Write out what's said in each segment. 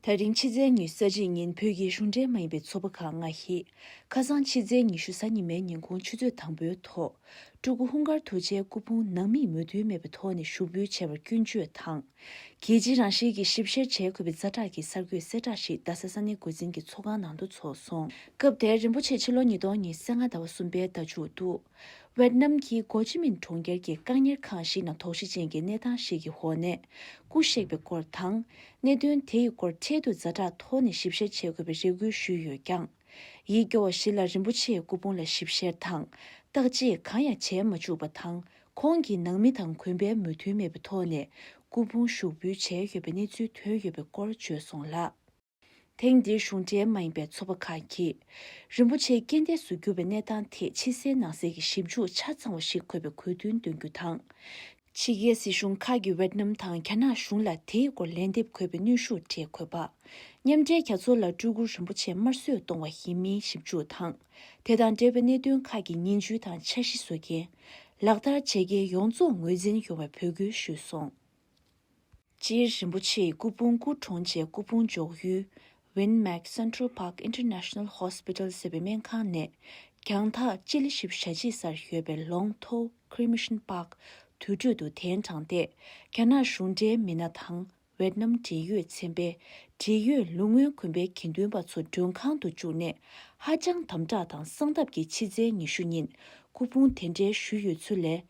ཐག་རིང་ཕྱི་ཚེས་ཉི་ས་གཅིག་ཉིན་བོད་ཀྱི་གཞུང་འབྲེལ་མ་ཡིན་པའི་ཚོགས་པ་ཁག་ལྔ་ཞིགཁ་སང་ཕྱི་ཚེས་ཉི་ཤུ་གཟའ་ཉི་མའི་ཉིན་ཁོང་ཆུ་ཚོད་དང་པོའི་ཐོག་སྤྲུལ་སྐུ་ཧུང་དཀར་ཐུགས་རྗེའི་སྐུ་ཕུང་ནང་མིས་མོས་མཐུན་མེད་པའི་ཐོག་ནས་ཞུགས་འབུལ་བྱས་པར་སྐྱོན་བརྗོད་དང། གལ་ཆེའི་རང་བཞིན་གྱི་ཞིབ་བཤེར་བྱས་དགོས་པའི་རྩ་དྲག་གི་གསར་འགོད་གསལ་བསྒྲགས་ཤིག་རྡ་ས་ས་གནས་འགོ་འཛིན་གྱི་ཚོགས་ཁང་ནང་དུ་ཚོགས་སོང། སྐབས་དེར་རིན་པོ་ཆེ་ཕྱི་ལོ་ཉིས་སྟོང་ཉེར་གསལ་ལྔ་ཟླ་བ་གསུམ་པའི་ཟླ་མཇུག་ཏུ། ཝེར་ནམ་གྱི་གོ་ཅི་མིན་གྲོང་ཁྱེར་གྱི་བཀག་གཉེར་ཁང་ཞིག་ནང་དོགས་གཞི་ཅན་གྱི་གནས་སྟངས་ཤིག་གི་འོག་ནས་སྐུ་གཤེགས་པའི་སྐོར་དང། གནད་དོན་དེ་ཡི་སྐོར་འཕྲལ་དུ་རྫ་དྲག་ཐོག་ནས་ཞིབ་བཤེར་བྱེད་དགོས་པའི་རེ་སྐུལ་ཞུས་ཡོད་ཀྱང། ཡིད་སྐྱོ་བ་ཞིག་ལ་རིན་པོ་ཆེའི་སྐུ་ཕུང་ལ་ཞིབ་བཤེར་དང་བརྟག་དཔྱད་གང་ཡང་བྱས་མ་བཅུག་པ་དང་ཁོང་གི་ནང་མི་དང་གུན་པའི་མོས་མཐུན་མེད་པའི་ཐོག་ནས་སྐུ་ཕུང་ཞུགས་འབུལ་བྱས་ཡོད་པའི་གནས་ཚུལ་ཐོན་ཡོད་པའི་སྐོར་བརྗོད་སོང་ལ། ཐེངས་འདིའི་གཞུང་འབྲེལ་མ་ཡིན་པའི་ཚོགས་པ་ཁག་གིས། རིན་པོ་ཆེ་རྐྱེན་འདས་སུ་གྱུར་བའི་གནས་སྟངས་ཐད་ཕྱི་གསལ་ནང་གསལ་གྱི་ཞིབ་འཇུག་ཆ་ཚང་བ་ཞིག་འཁོད་པའི་གོ་བསྟུན་འདོན་རྒྱུ་དང། ཕྱི་རྒྱལ་སྲིད་གཞུང་ཁག་གིས་ཝེད་ནམ་དང་རྒྱ་ནག་གཞུང་ལ་དེའི་སྐོར་ལན་འདེབས་འཁོད་པའི་གནོན་ཤུགས་འབྲེལ་འཁོད་པ། མཉམ་འབྲེལ་རྒྱ་མཚོ་ལ་སྤྲུལ་སྐུ་རིན་པོ་ཆེ་དམར་གསོད་གཏོང་བ་ཡིན་མིན་ཞིབ་འཇུག་དང། དེ་དང་འབྲེལ་བའི་གནད་དོན་ཁག་གི་ཉིན་བཅུའི་དང་འཆར་གཞི་བཟོ་མཁན། ལག་བསྟར་བྱེད་མཁན་ཡོངས་རྫོགས་ངོས་འཛིན་ཡོང་བའི་འབོད་སྐུལ་ཞུས་སོང། སྤྱིར་རིན་པོ་ཆེའི་སྐུ་ཕུང་སྐུ་གྲོངས་རྗེས་སྐུ་ཕུང་འཇོག་ཡུལ། Win Myck Central Park International Hospital། ཟེར་བའི་སྨན་ཁང་ནས་རྒྱང་ཐག་སྤྱི་ལེ་བཞི་བཞི་ཞེ་གཅིག་སར་ཡོད་པའི Long Tho Cremation Park དུད་ཁྲོད་དུ་གདན་དྲངས་ཏེ་རྒྱ་ནག་གཞུང་འབྲེལ་མི་སྣ་དང་ཝེད་ནམ་འབྲེལ་ཡོད་ཚན་པས་འབྲེལ་ཡོད་ལུགས་སྔོན་གོན་པའི་དགེ་འདུན་པ་ཚོ་མགྲོན་ཁང་དུ་བཅུག་ནས་ཧ་ཅང་དམ་དྲག་དང་གསང་སྟབས་ཀྱིས་ཕྱི་ཚེས་ཉི་ཤུ་ཉིན་སྐུ་ཕུང་དེ་འབྲེལ་ཞུས་ཡོད་ཚུལ་ལས།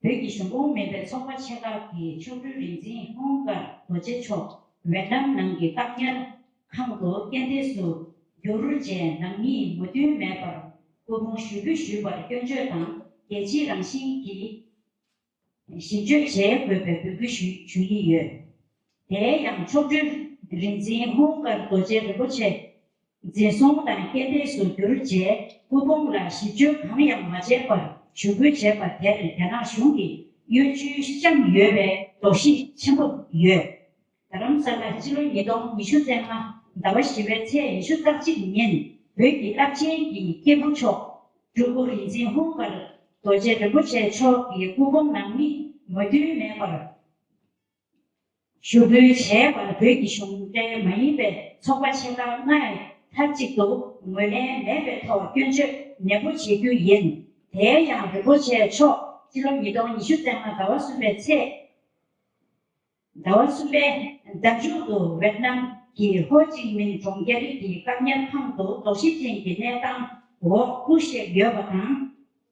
བོད་ཀྱི་གཞུང་གོང་མེད་པའི་ཚོགས་པ་ཆེ་ཁག་གི་མཆོག་སྤྲུལ་རིག་འཛིན་ཧོང་དཀར་རྡོ་རྗེ་མཆོག་ཝེ་ནམ་ནང་གི་བཀག་ཉར་ཁང་དུ་རྐྱེན་འདས་སུ་གྱུར་རྗེས་ནང་མིས་མོས་མཐུན་མེད་པར་སྐུ་ཕུང་ཞུ་འབུལ་ཞུས་པར་སྐྱོན་བརྗོད་དང་རྒྱལ་སྤྱིའི་རང་བཞིན་གྱིས་ཞིབ་དཔྱོད་བྱེད་དགོས་པའི་འབོད་སྐུལ་ཞུ་ཡི་ཡོད། དེའི་ཡང་མཆོག་སྤྲུལ་རིག་འཛིན་ཧོང་དཀར་རྡོ་རྗེ་རིན་པོ་ཆེ་འཛིན་སོང་དང་རྐྱེན་འདས་སུ་གྱུར་རྗེས་སྐུ་ཕུང་ལ་ཞིབ་བཅོས་གང་ཡང་མ་བྱས་པར་ཞུ་འབུལ་བྱས་པ་དེར་རྒྱ་ནག་གཞུང་གིས་གཡོ་ཇུས་བཤམས་ཡོད་པའི་དོགས་གཞི་ཆེན་པོ་ཡོད། རྡ་རམ་ས་ལར་ཕྱི་ལོ་ཉིས་སྟོང་ཉི་ཤུ་ཚེས་ལྔ་ཟླ་བ་བཞི་པའི་ཚེས་ཉི་ཤུ་རྩ་གཅིག་ཉིན་བོད་ཀྱི་རླབས་ཆེན་གྱི་སྐྱེས་བུ་མཆོག་སྤྲུལ་སྐུ་རིག་འཛིན་ཧུང་ཀར་རྡོ་རྗེ་རིན་པོ་ཆེ་མཆོག་གི་སྐུ་ཕུང་ནང་མིས་མོས་མཐུན་མེད་པར། ཞུ་འབུལ་བྱས་པར་བོད་ཀྱི་གཞུང་འབྲེལ་མ་ཡིན་པའི་ཚོགས་པ་ཆེ་ཁག་ལྔས་མཐའ་གཅིག་ཏུ་ངོས་ལེན་མེད་པའི་ཐོག་སྐྱོན་བརྗོད་ནན་པོ་བྱེད་རྒྱུ་ཡིན། དེའི་ཡང་རིན་པོ་ཆེ་མཆོག་ཕྱི་ལོ་ཉིས་སྟོང་ཉི་ཤུ་བརྩེགས་མ་ཟླ་བ་གསུམ་པའི་ཚེས་ཟླ་བ་གསུམ་པའི་ཟླ་མཇུག་ཏུ་ཝེད་ནམ་གྱི་ཧོ་ཅིང་མིན་གྲོང་རྒྱ་རིགས་ཀྱི་སྐབས་ཉེར་ཁང་དུ་དོགས་གཞི་ཅན་གྱི་གནས་སྟངས་འོག་སྐུ་གཤེགས་ཡོད་པ་དང།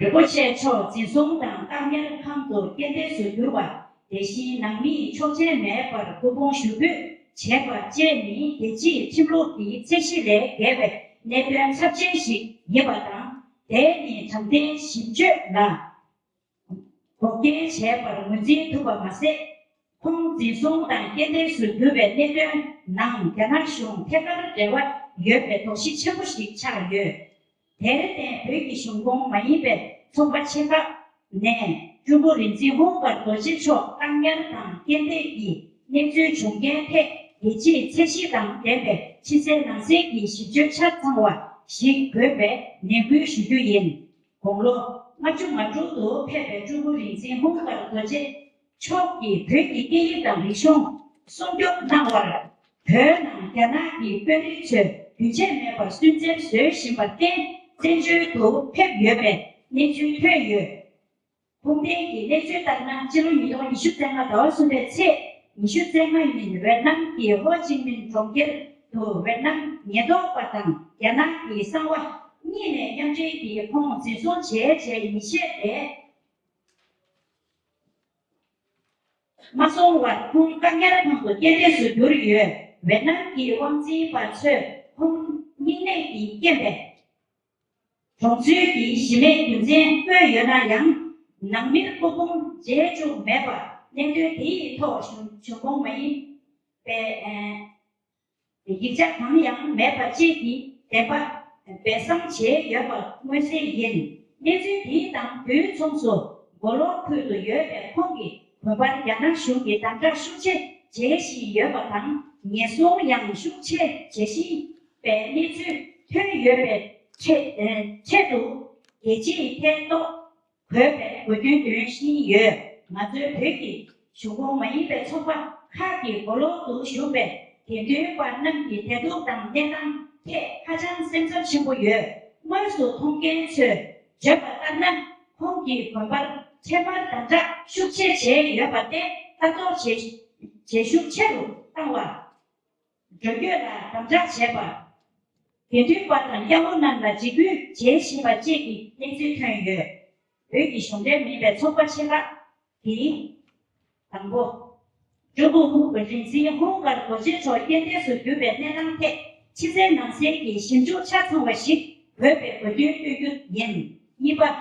རིན་པོ་ཆེ་མཆོག་འཛིན་གསུམ་དང་སྟག་སྨྱོན་ཁང་དུ་རྐྱེན་འདས་སུ་གྱུར་པ་དེ་བཞིན་ནང་མི་ཡི་ཆོག་མཆན་མེད་པར་སྐུ་ཕུང་ཞུ་འབུད་བྱས་པ་བཅས་ནི་རྒྱལ་སྤྱིའི་ཁྲིམས་ལུགས་ཀྱི་ཚད་གཞི་ལས་བརྒལ་བའི་གནད་དོན་ཚབས་ཆེན་ཞིག་ཡིན་པ་དང་དེ་ནི་དྲང་བདེན་ཞིབ་དཔྱོད་ལ། བོགས་འགེལ་བྱས་པར་ངོས་འཛིན་ཐུབ་པ་མ་ཟད། ཁོང་འཛིན་བཟུང་དང་རྐྱེན་འདས་སུ་གྱུར་པའི་གནད་དོན་ནང་རྒྱ་ནག་གཞུང་ཐད་ཀར་འབྲེལ་བ་ཡོད་པའི་དོགས་གཞི་ཆེན་པོ་ཞིག་ཆགས་ཡོད། དེར་བརྟེན་བོད་ཀྱི་གཞུང་ཁོངས་མ་ཡིན་པའི་ཚོགས་པ་ཆེ་ཁག་ནས་ཀྲུང་གོ་རིག་འཛིན་ཧུང་བར་རྡོ་རྗེ་མཆོག་བཀག་ཉར་དང་རྐྱེན་འདས་ཀྱི་གནས་ཚུལ་བྱུང་རྐྱེན་ཐད་རྒྱལ་སྤྱིའི་ཚད་གཞི་དང་ལྡན་པའི་ཕྱི་གསལ་ནང་གསལ་གྱི་ཞིབ་དཔྱོད་ཆ་ཚང་བ་ཞིག་དགོས་པའི་ནན་སྐུལ་ཞུ་རྒྱུ་ཡིན། དགུང་ལོ་ང་བཅུ་ང་དྲུག་ཏུ་ཕེབས་པའི་ཀྲུའུ་པུའུ་རིག་འཛིན་ཧུང་ཀར་རྡོ་རྗེ་མཆོག་གིས་བོད་ཀྱི་སྐད་ཡིག་དང་རིག་གཞུང་སྲུང་སྐྱོབ་གནང་བར། བོད་ནང་རྒྱ་ནག་གི་དཔོན་རིགས་ཚོས་རྒྱུན་ཆད་མེད་པར་སུན་གཙེར་བཟོས་བཞིན་པར་བརྟེན་བཙན་བྱོལ་དུ་ཕེབས་ཡོད་པའི་གནས་ཚུལ་ཐོན་ཡོད། ཁུངས་ལྡན་གྱི་གནས་ཚུལ་ལྟར་ན་ཕྱི་ལོ་ཉིས་སྟོང་ཉི་ཤུ་ཚན་ལྔ་ཟླ་བ་གསུམ་པའི་ཚེས་ཉི་ཤུ་ཚེས་ལྔ་ཉིན་ཝེར་ནམ་གྱི་ཧོ་ཅིན་མིན་གྲོང་ཁྱེར་དུ་ཝེར་ནམ་ཉེན་རྟོག་པ་དང་རྒྱ་ནག་གི་གསང་བ་གཉིས་ནས་མཉམ་འབྲེལ་གྱིས་ཁོང་འཛིན་བཟུང་བྱས་རྗེས་ཉིན་ཤས་རེ་མ་སོང་བར་ཁོང་བཀག་ཉར་ཁང་དུ་རྐྱེན་འདས་སུ་གྱུར་ཡོད། ཝེར་ནམ་གྱི་དབང་འཛིན་པ་ཚོས་ཁོང་སྙིང་ནད་ཀྱིས་རྐྱེན་པས། གྲོང་ཚོའི་གྱི་གཞི་མེད་རྒྱུ་མཚན་དངོས་ཡོད་ན་ཡང་ནང་མིར་སྐུ་ཕུང་མཇལ་བཅུག་མེད་པར་གནད་དོན་དེ་ཡི་ཐོག་བྱུང་ཁོངས་མ་ཡིན་པའི་ཡིག་ཆ་གང་ཡང་མེད་པ་བཅས་ཀྱི་བདེན་པ་སྦས་གསང་བྱས་ཡོད་པ་མངོན་གསལ་ཡིན། གནས་ཚུལ་དེའི་དང་དུས་མཚུངས་སུ་མགོ་ལོག་ཁུལ་དུ་ཡོད་པའི་ཁོང་གི་བུ་ཕར་རྒྱ་ནག་གཞུང་གིས་དམ་དྲག་ཤུགས་ཆེ་བྱེད་བཞིན་ཡོད་པ་དང་ཉེས་བཟུང་ཡང་ཤུགས་ཆེ་བྱེད་བཞིན་པའི་གནས་ཚུལ་ཐོན་ཡོད་པའི་ཆེད་དུ་རྒྱལ་སྤྱིའི་ཐད་གཏོགས་གོས་པའི་དགོས་འདུན་འདོན་བཞིན་ཡོད། ང་ཚོའི་བོད་ཀྱི་གཞུང་ཁོངས་མ་ཡིན་པའི་ཚོགས་པ་ཁག་གི་མགོ་ལོག་ཏུ་བཞུགས་པའི་དགེ་འདུན་པ་རྣམས་ཀྱི་བདེ་སྡུག་དང་གནས་སྟངས་ཐད་ཧ་ཅང་སེམས་འཚབ་ཆེན་པོ་ཡོད། དངོས་སུ་མཐོང་མཁན་ཚོས་བརྗོད་པ་ལྟར་ན་ཁོང་གི་དགོན་པར་ཁྱད་པར་དམ་དྲག་ཤུགས་ཆེ་བྱས་ཡོད་པ་སྟེ་ལྟ་རྟོག་བྱེད་ཤུགས་ཆེ་རུ་བཏང་བ། འགྲོ་སྐྱོད་ལ་དམ་དྲག་བྱས་པ། དགེ་འདུན་པ་དང་དབྱར་མོ་རྣམས་ལ་འཇིགས་སྐུལ་བྱེད་བཞིན་པ་བཅས་ཀྱི་གནས་ཚུལ་ཐོན་ཡོད། བོད་ཀྱི་གཞུང་འབྲེལ་མིན་པའི་ཚོགས་པ་ཆེ་ཁག་གིས། དང་པོ། ཀྲུང་གུང་ཧུང་བོད་རིག་འཛིན་ཧུང་ཀར་གོ་ཆེན་མཆོག་རྐྱེན་འདས་སུ་གྱུར་པའི་གནས་སྟངས་ཐད་ཕྱི་གསལ་ནང་གསལ་གྱི་ཞིབ་འཇུག་ཆ་ཚང་བ་ཞིག་དགོས་པའི་དགོས་འདུན་བཏོན་རྒྱུ་ཡིན། གཉིས་པ།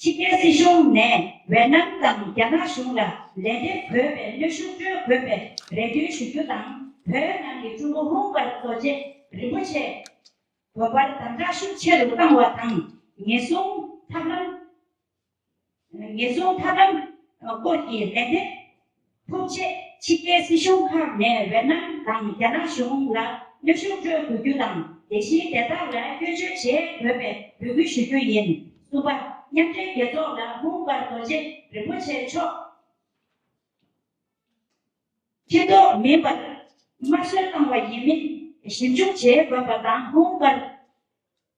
ཕྱི་རྒྱལ་སྲིད་གཞུང་ནས་ཝེ་ནམ་དང་རྒྱ་ནག་གཞུང་ལ་ལན་འདེབས་དགོས་པའི་གནོད་ཤུགས་སྤྲོད་དགོས་པའི་རེ་འདུན་ཞུ་རྒྱུ་དང་བོད་ནང་གི་ཀྲུང་གོ་ལྷུང་བར་རྡོ་རྗེ་རིན་པོ་ཆེས་དགོན་པར་དམ་དྲག་ཤུགས་ཆེ་རུ་བཏང་བ་དང་ཉེན་སྲུང་ཐབས་ལམ་སྐོར་གྱི་ལན་འདེབས། ཐུག་རྗེས་ཕྱི་རྒྱལ་སྲིད་གཞུང་ཁག་ནས་ཝེ་ནམ་དང་རྒྱ་ནག་གཞུང་ལ་གནོད་ཤུགས་སྤྲོད་དགོས་རྒྱུ་དང་དེ་བཞིན་དེ་དག་ལ་སྐྱོན་བརྗོད་བྱེད་དགོས་པའི་འབོད་སྐུལ་ཞུ་རྒྱུ་ཡིན། གསུམ་པ། མཉམ་འབྲེལ་རྒྱལ་ཚོགས་ལ་མུ་འབར་རྡོ་རྗེ་རིན་པོ་ཆེ་མཆོག། ཕྱི་ལྡོག་མིན་པར་དམར་གསོད་བཏང་བ་ཡིན་མིན་ཞིབ་འཇུག་བྱེད་དགོས་པ་དང་མུ་འབར་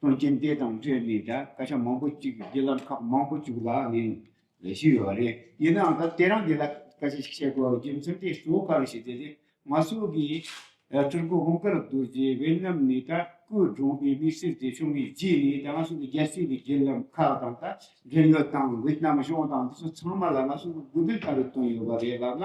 དོན་རྐྱེན་དེ་དང་འབྲེལ་ནས་ཀྱང་སྐད་ཆ་མང་པོ་གཅིག་བརྒྱུད་ལམ་ཁག་མང་པོ་གཅིག་ལ་ནས་ལས་ཞུས་ཡོད་པ་རེད། ཡིན་ནའང་ད་དེ་རང་འདི་ལ་སྐད་ཆ་ཞིག་བཤད་དགོས་རྒྱུ་མཚན་དེ་གཙོ་བོ་ག་རེ་ཞིག་དེ་ནི་ང་ཚོ་གི་ཀྲུང་གོ་གོང་དཀར་རྡོ་རྗེ་བྷེལ་ནམ་ནས་ད་སྐུ་གྲོངས་པའི་དམིགས་བསལ་དེ་བྱུང་བའི་རྗེས་ནས་ད་ང་ཚོ་གི་རྒྱལ་སྤྱིའི་བརྒྱུད་ལམ་ཁག་དང་ད་འབྲེལ་ཡོད་དང་ཝེ་ཏི་ནམ་གཞུང་དང་དེ་ཚོ་ཚང་མ་ལ་ང་ཚོ་གི་དགོས་འདུན་ལྟ་བུ་བཏོན་ཡོད་པ་རེད་ལབ་ན།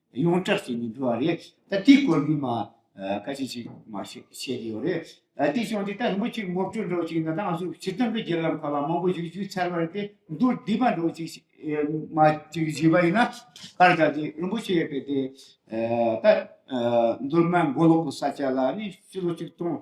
ཡོངས་གྲགས་བྱེད་མི་འདུག་བ་རེད་ད་དེའི་སྐོར་མི་མང་བཀའ་སྤྱི་ཅིག་མ་བྱེད་བྱེད་ཀྱི་ཡོད་རེད་ད་དེ་བྱུང་དེ་ད་རིན་པོ་ཆེ་ངོ་སྤྲོད་འགྲོ་ཅིག་ན་ད་ང་ཚོ་ཕྱི་སྟོན་པའི་རྒྱལ་ལམ་ཁ་བ་མང་པོ་ཞིག་བཞུད་ཚར་བ་རེད་དེ་མདོར་བསྡུས་པ་འགྲོ་ཅིག་མ་ཅིག་བཞུད་པ་ཡིན་ན་ཕར་ད་དེ་རིན་པོ་ཆེ་ཡོད་པའི་དེ་ད་མདོར་ན་མགོ་ལོག་གི་ས་ཆ་ལ་ནི་ཕྱི་ལོ་ཆིག་སྟོང་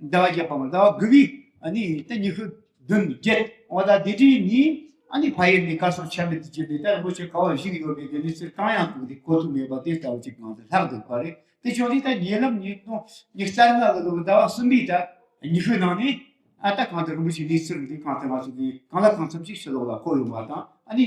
ཟླ་བ་བརྒྱད་པའམ་ཟླ་བ་དགུ་པའི་ནི་སྟེ་ཉི་ཤུ་བདུན་བརྒྱད་འོ་ད་དེ་དྲིས་ནི་ཨ་ནི་བྷ་ཡེ་ནི་ཀ་སོགས་ཆ་མེད་དུ་གྱུར་ཏེ་དེ་ལ་མོ་ཆེ་ཁ་བ་བཞི་ཡོད་པས་དེ་ནི་ཚེ་གང་ཡང་དུག་དེ་ཁོ་ཐུག་མེད་པ་དེ་ལྟ་བུ་ཅིག་གང་དུ་ལྷག་འདུག་པ་རེད་དེ་བྱུང་ནས་ད་ཉེ་ལམ་ཉིན་སྟོང་ཉེར་རྩ་ལྔ་ལ་ལོ་ཟླ་བ་གསུམ་པའི་ད་ཉི་ཤུའི་ནང་ནས་ཨ་ད་གང་དུ་རིན་པོ་ཆེ་ནི་ཚུར་འདི་གང་དེ་མ་བྱུང་གིས་གང་ལ་གང་འཚམ་ཞིག་ཕྱི་ལོག་ལ་འཁོར་ཡོང་བ་དང་ཨ་ནི་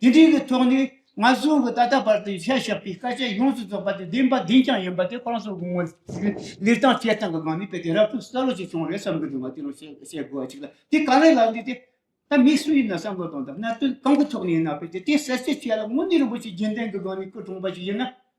དེ་དུས་ཀྱི་ཐོག་ནས་ང་གསུམ་གྱི་ད་ལྟ་བར་དུ་བཤད་བཞག་པའི་དཀའ་སྤྱད་ཡོངས་སུ་རྫོགས་པ་དེ་བདེན་པ་བདེན་ཀྱང་ཡིན་པ་དེ་ཁོང་ཚོ་དགོངས་མོལ་ལས་དང་བཅས་སྟངས་ཀྱི་སྒང་ནས་དཔེ་དེ་རབ་ཏུ་གསལ་བོ་ཞིག་བྱུང་རེད་བསམ་གྱི་འདུག་ང་དེ་རང་བཤད་བཤད་དགོས་བ་ཅིག་ལ་དེ་ག་ལེར་ལབ་འདུག་སྟེ། ད་མི་སུ་ཡིན་ན་བསམ་བློ་གཏོང་དང་གནད་དོན་གང་གི་ཐོག་ནས་ཡིན་ན་དཔེ་དེ་དེ་གསལ་བཤད་བྱས་ལ་དངོས་གནས་རིན་པོ་ཆེ་རྒྱན་ལྡན་གྱི་སྒང་ནས་སྐུ་གྲོངས་པ་ཞིག་ཡིན་ན།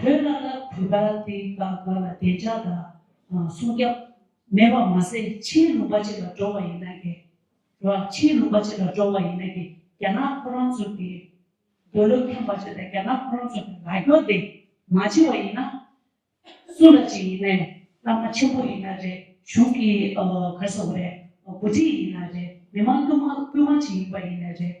བོད་གནའ་རབས་བོད་པ་དེ་ག་ག་ལ་བདེ་འཇགས་དང་སྲུང་སྐྱབས་མེད་པ་མ་ཟད་ཕྱིའི་ལུང་པ་ཅིག་ལ་འགྲོ་བ་ཡིན་ན་གས། ར་ཕྱིའི་ལུང་པ་ཅིག་ལ་འགྲོ་བ་ཡིན་ན་གས་རྒྱ་ནག་ཁོ་རང་ཚོ་གས། འདོད་བློ་ཁྱམས་པ་ཅིག་ལ་རྒྱ་ནག་ཁོ་རང་ཚོ་གས་ལ་རྒྱོ་དེ་མ་བྱེད་བ་ཡིན་ན། སུ་ལ་ཅིག་ཡིན་ནས་བླ་མ་ཆེན་པོ་ཡིན་ན་རེད་གཞུང་གི་གར་ས་བ་རེད་འགོ་ཁྲིད་ཡིན་ན་རེད་མི་མང་དཀོན་མ་དཀོན་མ་ཅིག་ཡིན་པ་ཡིན་ན་རེད།